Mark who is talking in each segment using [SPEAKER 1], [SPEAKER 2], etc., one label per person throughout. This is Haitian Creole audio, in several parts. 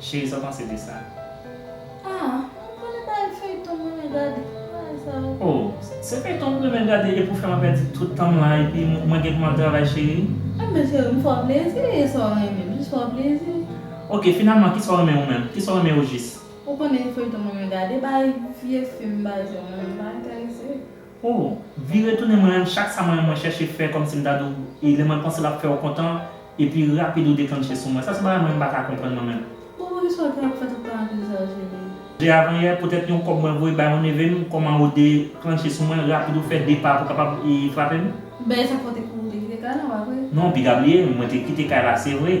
[SPEAKER 1] Cheri sa w panse de sa? Ah
[SPEAKER 2] mwen konnen bagay feyton mwen renmen gade bagay sa yo.
[SPEAKER 1] Oh se feyton ou renmen gade epi w fè mwen pèdi tout tan m la epi mwen gen pou m ap travay cheri. Ebyen cheri m fè w
[SPEAKER 2] plezi e sa w renmen m jis fè w plezi. Ok finalman
[SPEAKER 1] kisa w renmen ou menm? Kisa w renmen ojis? Ou konnen feyton
[SPEAKER 2] mwen renmen gade bagay vye film bagay sa yo mwen pa enterese. Oh
[SPEAKER 1] vire tounen mwen renmn chak sa mwen renmn mwen chèche fè kòmsi m ta di w e lè mwen panse l ap fè w kontan epi rapid ou deklannche sou mwen sa se bagay mwen m pa ka konprann mwen menm. Bon poukisa w te ap
[SPEAKER 2] fè tout tan ak lizaj Lili? Jè avan yè poutèt
[SPEAKER 1] yon kòb mwen voye bay yon neve m kòman ou deklannche sou mwen rapid ou fè de pa pou kapab frape m? Bèy sa fè w te kouri te kite kay la pa vre?
[SPEAKER 2] Non piga bliye mwen
[SPEAKER 1] te kite kay la se vre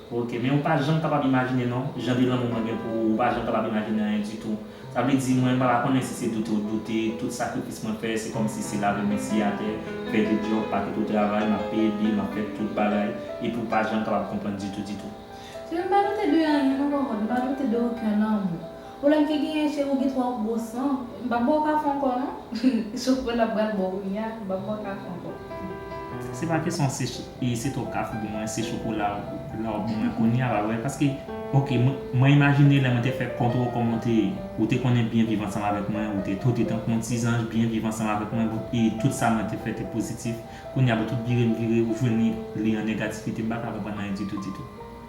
[SPEAKER 2] Ok, men ou pa janm
[SPEAKER 1] kapab imajine non, jan de lanmou mwen gen pou ou, ou pa janm kapab imajine anyen ditou. Sa vle di, mwen pa ta konnen si se doute ou doute, tout sakrifis mwen fè, se kòmsi se lave men siye atè, fè de djòb, pa kite w travay, m ap peye bil, m ap fè tout bagay, epi ou pa janm kapab konprann ditou ditou. Se m pa
[SPEAKER 2] doute de anyen non Ròmòn, m pa doute de oken lanmou. Pwoblèm ki genyen cheri ou gen twòp gwo san. M pap
[SPEAKER 1] baw kafe ankò non. Chofè la pral baw kounya m pap baw kafe ankò. Se pa kesyon se twòp kafe ou gen mwen se chokola la wap ban mwen kounya pa vre paske ok mwen imajine lè mwen te fè kont ou kòman ou te ou te konnen byen viv ansanm avèk mwen ou te tote tankou yon ti zanj byen viv ansanm avèk mwen bon e tout sa mwen te fè te pozitif kounya bon tout vire m vire ou jwenn li an negativite m pa ka konprann anyen ditou ditou.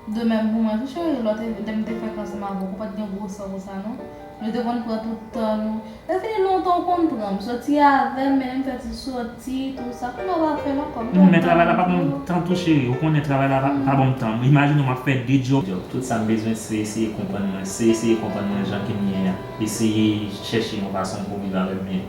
[SPEAKER 1] De même pou
[SPEAKER 2] mwen tou chérie lò te lèm te fèk ansanm avèk ou pat gen gwo san konsa non nou te konn pran tout tan nou lè fini lontan ou konn pranm soti avèm mennenm fè ti soti tou sa kounya ou pa fèl ankò m men travay la pa banm tan
[SPEAKER 1] tou chérie ou konnen travay la pa banm tan m imajine w map fè 2 djòb tout sam bezwen se eseye konprann mwen se eseye konprann mwen jan kem ye a eseye chèche yon fason pou viv avèm byen.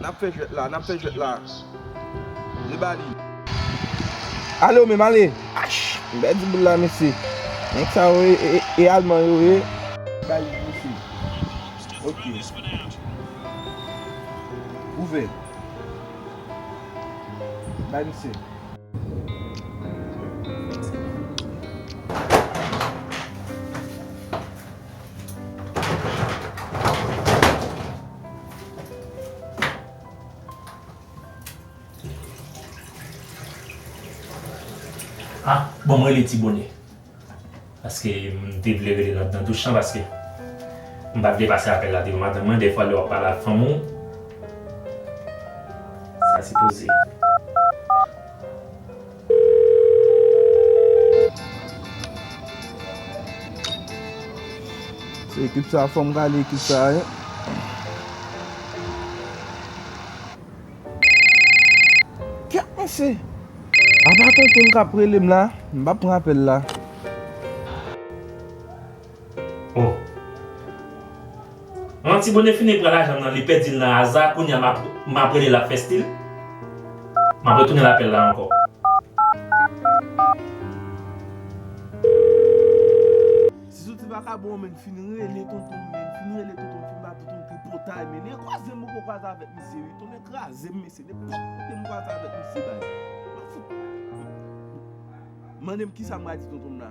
[SPEAKER 3] Nap fè jwèt la, nap fè jwèt la. Li ba li. Ale ou menm ale. Ash! M pèdi boul la mesye. Nèg sa yo e alman yo ye. Bay li mesye. Ok. Ouvè. Bay misye.
[SPEAKER 1] Ah bon m rele ti bone paske m te vle rele l ap nan douch lan paske m pa t vle pase apèl la devan madanm mwen dèfwa lè w ap pale ak fanmi w sa sipoze.
[SPEAKER 3] Se ekip sa a fòm gade ekip sa a wi. Kèmese! Apa tontonm kap relem la? M pap pran apèl la.
[SPEAKER 1] Oh Manti Bone fini pran lajanm nan li pèdil nan aza kounya map map relel lap fè stil Map retounen lapèl la ankò.
[SPEAKER 3] Ti soti vakabon menn fin rele tontonm menn fin rele tontonm fin ba tontonm tripotay menn e kwaze mwen poko kwaze avèk misye wi tonnè krazem mesye nenpòt kote m kwaze avèk misye bay mwen fout mandem kisam pral di tontonm la.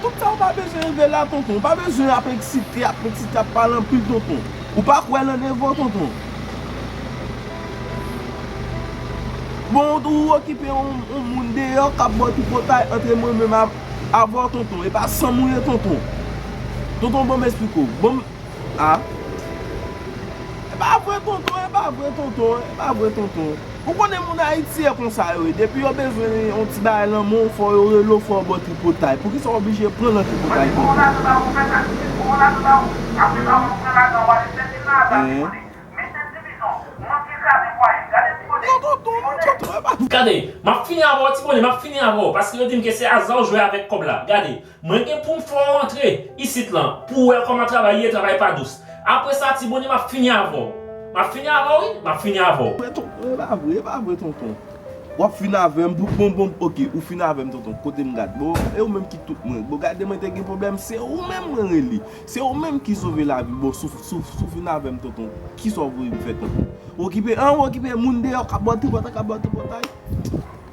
[SPEAKER 3] Tout sa ou pa bezwen rive la tonton, ou pa bezwen ap eksite, ap eksite, ap pale anpil tonton. Ou pa kwè lan devan tonton. Bon ou okipe yon moun deyò kap baw tripotay antre mwen menm avèw tonton, epa sanm ou ye tonton. Tonton banm esplike w. Ah E pa vre tonton e pa vre tonton e pa vre tonton Ou konnen moun ayiti e konsa yo ye depi yo bezwen yon ti bagay nan men w fò yo rele w fò w ba w tripotay poukisa w oblije pran nan tripotay tonton. Gade, m ap fini avè
[SPEAKER 1] w ti bone, m ap fini avè w paske yo di m ke se aza w jwe avèk kòb la. Gade. Mwen gen poum fè w rantre isit lan pou w wè kòman travay ye travay pa dous apre sa ti bondye map fini avè w map fini avè w wi map fini avè w. Mwen tonton e pa vre
[SPEAKER 3] e pa vre tonton wap fin avèm pou bon bon ok ou fin avèm tonton kotem gad bon e ou menm ki tout mwen bon gade mwen te gen problèm se ou menm mwen rele se ou menm ki sove lavim bon sou sou fin avèm tonton kisa ou vlem fè tonton ou okipe an ou okipe moun deyò kap bò tripotay kap bò tripotay.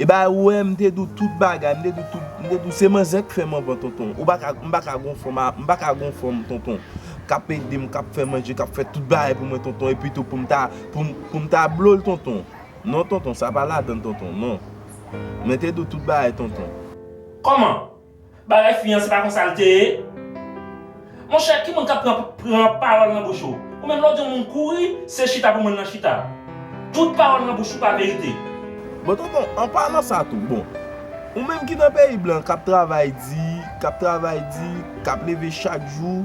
[SPEAKER 3] Eba ou wè m te di w tout bagay, m te di w tout, m te di w se manzè k fè m anvan tonton, ou pa ka, m pa ka gon fanm, m pa ka gon fanm tonton kap ede m, kap fè manje, kap fè tout bagay pou mwen tonton epi tou pou m ta, pou m ta blo l tonton, non tonton sa pa ladan tonton non, mwen te di w tout bagay tonton. Kòman?
[SPEAKER 1] Bagay fi an se pa konsa l te ye? Monchè ki moun k ap pran pran pawòl nan bouch ou? Ou menm lè w di yon moun kouri, se chita pou moun nan chita. Tout pawòl nan bouch ou pa verite. Bon tonton,
[SPEAKER 3] an palan sa tou, bon, ou menm ki nan peyi blan k ap travay di, k ap travay di, k ap leve chak jou,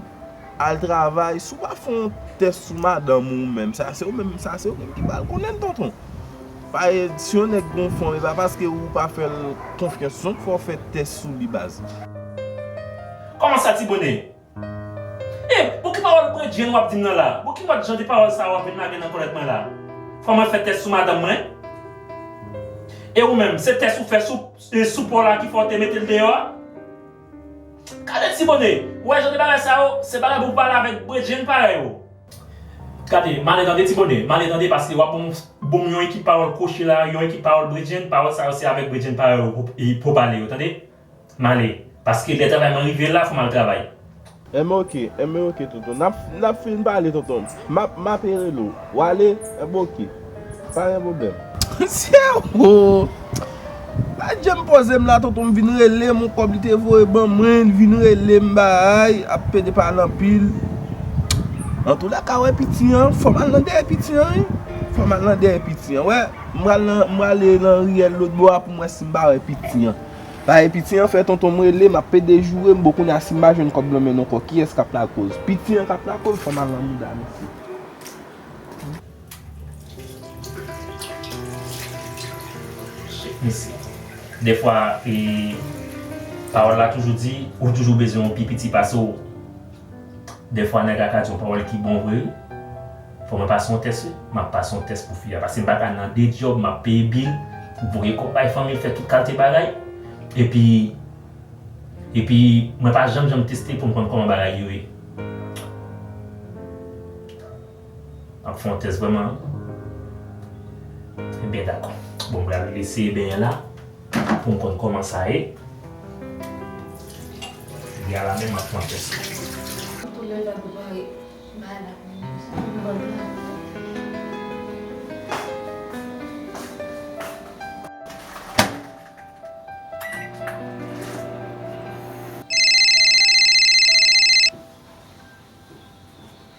[SPEAKER 3] al travay, si w pa fè yon tès sou madanm ou menm, sa se ou menm, sa se ou menm ki pral konnen l tonton. Pa e si yon nèg gon fon e pa paske ou pa fèl konfyans non fòw fè tès sou li baz.
[SPEAKER 1] Kòman sa ti bonè? E, bon ki pawòl bredjenn wap dim nan la? Bon ki mòd jan de pawòl sa wap vin lage nan kòlèt mwen la? Fò mwen fè tès sou madanm mwen? E ou menm, se tès ou fè sou e sou paw la ki fè w te metel deyò a? Gade ti bonè, ou wè jan de bagay sa yo, se bagay pou pale avèk bredjenn parèy ou. Gade, male tande ti bone, male tande paske wap banm bonm yon ekip pawòl kwochi la, yon ekip pawòl bredjenn, pawòl sa yo se avèk bredjenn pa yo pou pale yo tande. Male, paske lè travay mwen rive la fòm al travay. Enben ok,
[SPEAKER 3] enben ok tonton, nap fin pale tonton, map, map e rele w, wale? Enben ok. Pa gen pwoblèm. Sè ooh! Laj jem poze m la tonton m vin rele m yon kòb li te voye ban mwen li vin rele m baay ap pede pale anpil Antou la ka wè piti an fò m al nan dèyè piti an wi fò m al nan dèyè piti an wè m pral nan m prale nan riyèl lotbo a pou m wè si m pa wè piti an pae piti an fè tonton m rele m ap pede joure m bon kounye a si m pa jwenn kòb nan men n ankò kiyès k ap lakoz piti an k ap lakoz fò m al nan mouda mesye.
[SPEAKER 1] Mesi. Defwa e pawol la toujou di ou toujou bezwen yon pi piti pase w. Defwa neg la ka di yon pawol ki bon vre wi. Fo mwen pase yon test wi. Map pase yon test pou fi a pase m pa ka nan 2 job map peye bill, voye kob bay fanmi, fe tout kalte bagay. Epi epi mwen pa janm janm teste pou m konn koman bagay yo ye. Ap fon tès vreman. Ebyen dakò. Bon m pral eseye benyen la pou m konn kòman sa ye. Li a la men map fon tès li.